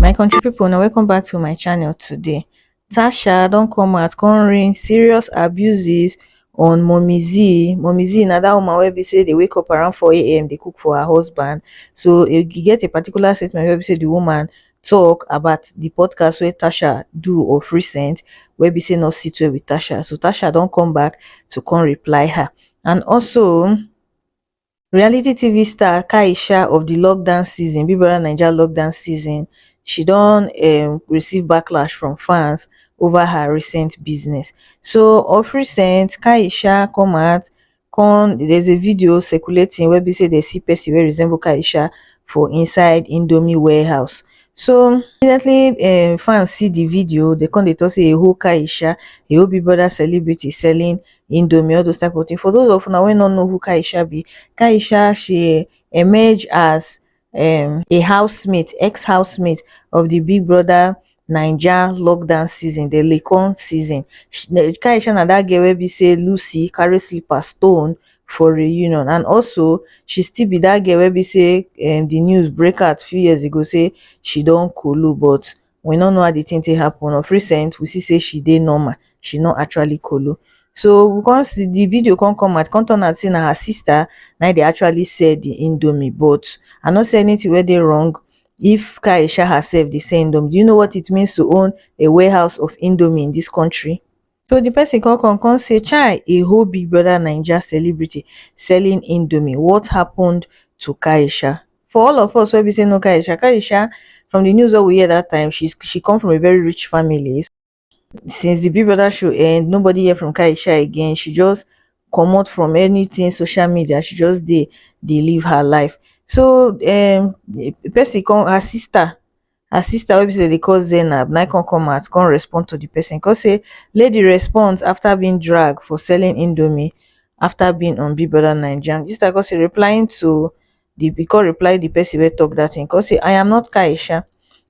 my country people, now welcome back to my channel today tasha don't come out come rain serious abuses on mommy z mommy z na that woman wey be say they wake up around 4 a.m they cook for her husband so you get a particular statement where be say the woman talk about the podcast where tasha do of recent where be say not sit well with tasha so tasha don't come back to come reply her and also um reality tv star kaiysha of di lockdown season big brother naija lockdown season she don um receive backlash from fans ova her recent business so of recent kaiysha come out kon there is a video circulating wey be say dey see pesin wey resemble kaiysha for inside indomie warehouse so immediately um fans see di video dey kon dey tok say eho kaiysha eho big brother celebrity selling indomie all those type of thing for those of una wey no know who Kaisha be Kaisha she emerge as um a housemate ex housemate of the big brother Naija lockdown season the lecon season Kaisha na that girl wey be say Lucy carry slipper stone for reunion and also she still be that girl wey be say um the news break out few years ago say she don kolo but we no know how the thing take happen of recent we see say she dey normal she no actually kolo so we come see the video come come out come turn out say na her sister na dey actually sell the indomie but i no say anything wey dey wrong if kaisha herself dey sell indomie do you know what it means to own a warehouse of indomie in this country so the person come come come say chai a whole big brother naija celebrity selling indomie what happened to kaisha for all of us wey be say no kaisha kaisha from the news wey we hear that time she she come from a very rich family since the big brother show end nobody hear from kaisha again she just comot from anything social media she just dey dey live her life so um person come her sister her sister wey be say dem dey call zainab na him come come out come respond to the person he come say lady responds after being dragged for selling indomie after being on big brother naija and the sister come say replying to the he come reply the person wey talk that thing he come say i am not aisha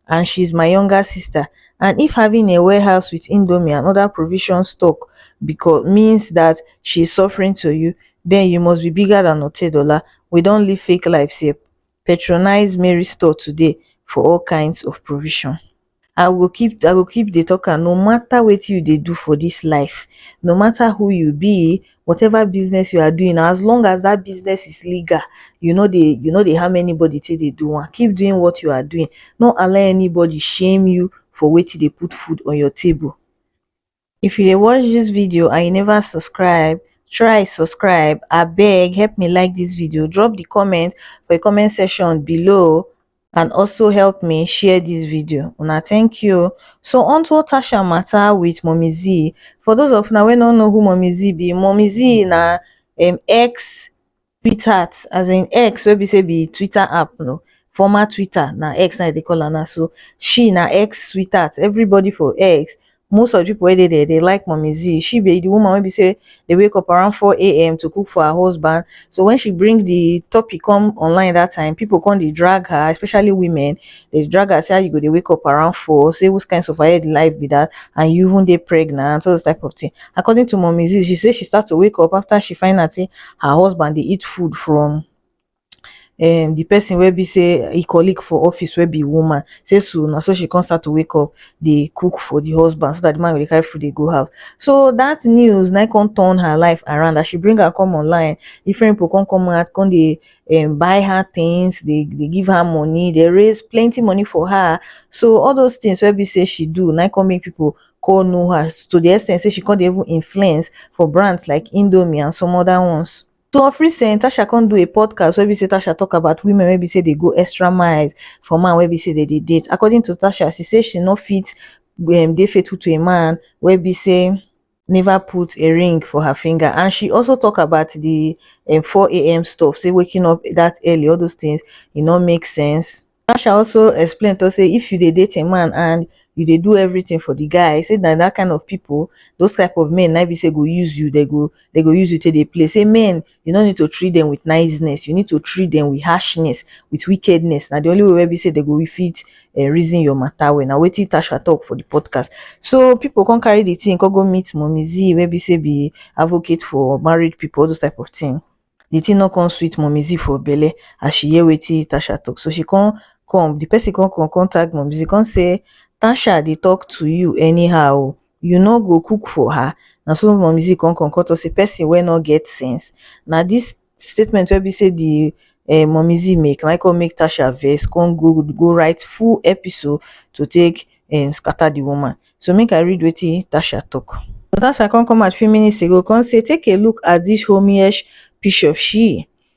and she is my younger sister and if having a warehouse with indomie and other provision stock because means that she is suffering to you then you must be bigger than otedola we don live fake lives here patronize mary store today for all kinds of provision i go keep i go keep dey talk am no matter wetin you dey do for this life no matter who you be whatever business you are doing as long as that business is legal you no dey you no dey harm anybody take dey do am keep doing what you are doing no allow anybody shame you for wetin dey put food on your table if you dey watch this video and you never subscribe try subscribe abeg help me like this video drop the comment for the comment section below and also help me share this video una thank you so on to tasha matter with mommy z for those of una wey no know who mommy z be mommy z na um, ex Tweetheart as in X wey be sey be Twitter app you know former Twitter na X na dem dey call am now so she na X sweetheart everybody for X most of de pipu wey dey there dey like mummy zee she be de woman wey be sey dey wake up around four am to cook for her husband so when she bring de topic come online dat time pipu come dey drag her especially women Dem dey drag her say how you go dey wake up around four, say whose kind suffer head life be that and you even dey pregnant, all those type of thing. According to mummy Zee, she say she start to wake up after she find out say her husband dey eat food from um the person wey be say e colleague for office wey be woman, say so na so she come start to wake up dey cook for the husband so that the man go dey carry food dey go house. So that news na im come turn her life around as she bring am come online, different people come come out come dey um buy her things dey dey give her money dey raise plenty money for her so all those things wey be say she do na him come make people come know her to the ex ten t say she come dey even influence for brands like indomie and some other ones so of recent tasha come do a podcast wey be say tasha talk about women wey be say dey go extra miles for man wey be say dem dey date according to tasha she say she no fit um dey faithful to a man wey be say neva put a ring for her finger and she also tok about di um four am stuff say waking up dat early all those tins e no make sense natasha also explain tok say if you dey date a man and you dey do everything for di guy say na dat kain of pipo those type of men na im be say go use you dem go dem go use you take dey play say men you no need to treat them with niceness you need to treat them with harshness with wickedness na the only way wey be say they go fit uh, reason your matter well na wetin tasha talk for the podcast so people come carry the thing come go meet mommy z wey be say be advocate for married people all those type of thing the thing no come sweet mommy z for belle as she hear wetin tasha talk so she come come the person come come come tag mommy z come say tasha dey talk to you anyhow you no go cook for her na so mummy zee come come come talk say person wey no get sense na this statement wey be say the um mummy zee make na him come make tasha vex come go go write full episode to take um scatter the woman so make i read wetin tasha talk tasha come come out few minutes ago come say take a look at this homeish picture she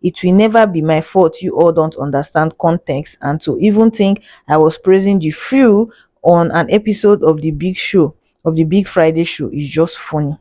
it will never be my fault you all don't understand context and to even think i was praising the few on an episode of the big show of the big friday show is just funny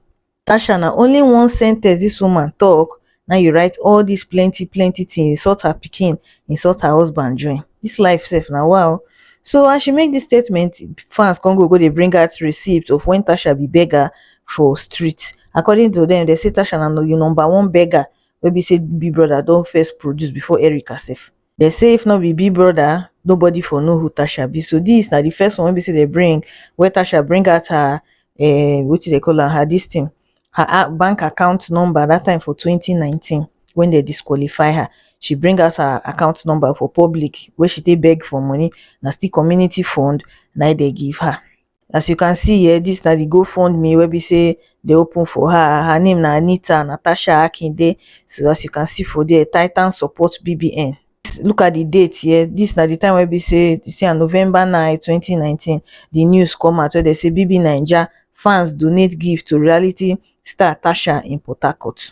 tasha na only one sentence this woman talk now you write all this plenty plenty thing insult her picking insult her husband join this life safe now wow so as she make this statement fans can go go they bring out receipt of when tasha be beggar for street according to them they say tasha na you number one beggar wey be say big brother don first produce before Erica sef. Dem say if no be big brother, nobody for know who Tasha be. So this na the first one wey be say dem bring where Tasha bring out her um wetin dem call am her this thing her a- bank account number that time for 2019 when dem disqualify her. She bring out her account number for public wey she take beg for money. Na still community fund na im dem give her. as you can see um dis na the GoFundMe wey be sey they open for her. Her name na Anita Natasha Akinde. So as you can see for there, Titan support BBN. Look at the date here. This na the time wey be sey they say na November 9, 2019. The news come out wey they say BB Naija fans donate gift to reality star Tasha in Port Harcourt.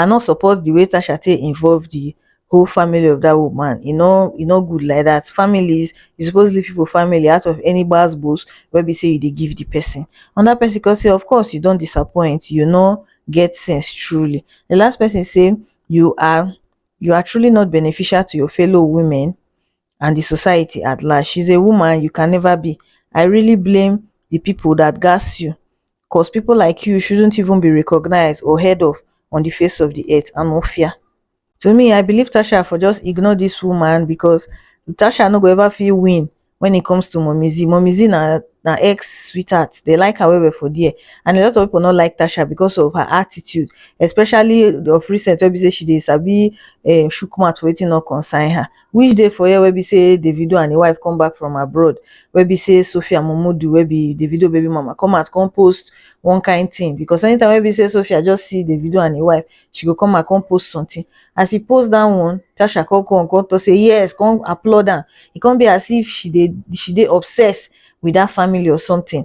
i no support the way tasha take involve the whole family of dat woman e no e no good like dat families you suppose leave people family out of any gbas gbos wey be say you dey give the person another person come say of course you don disappoint you no get sense truely the last person say you are you are truely not beneficial to your fellow women and the society at large she's a woman you can never be i really blame the people that gas you cos pipo like you shouldnt even be recognised or heard of on di face of di earth anofia to me i believe tasha for just ignore dis woman becos tasha no go ever fit win wen it comes to mummy-z mummy-z na na ex sweetheart dem like her well well for there and a lot of pipo no like tasha becos of her attitude especially of recent wey be say she dey sabi um chook mouth for wetin no concern her Which dey for here wey be say Davido and him wife come back from abroad wey be say Sophia Momodu wey be Davido baby mama come out come post one kind thing because anytime wey be say Sophia just see Davido and him wife she go come out come post something as she post that one Tasha come come come talk say yes come applaud am e come be as if she dey she dey obsessed with that family or something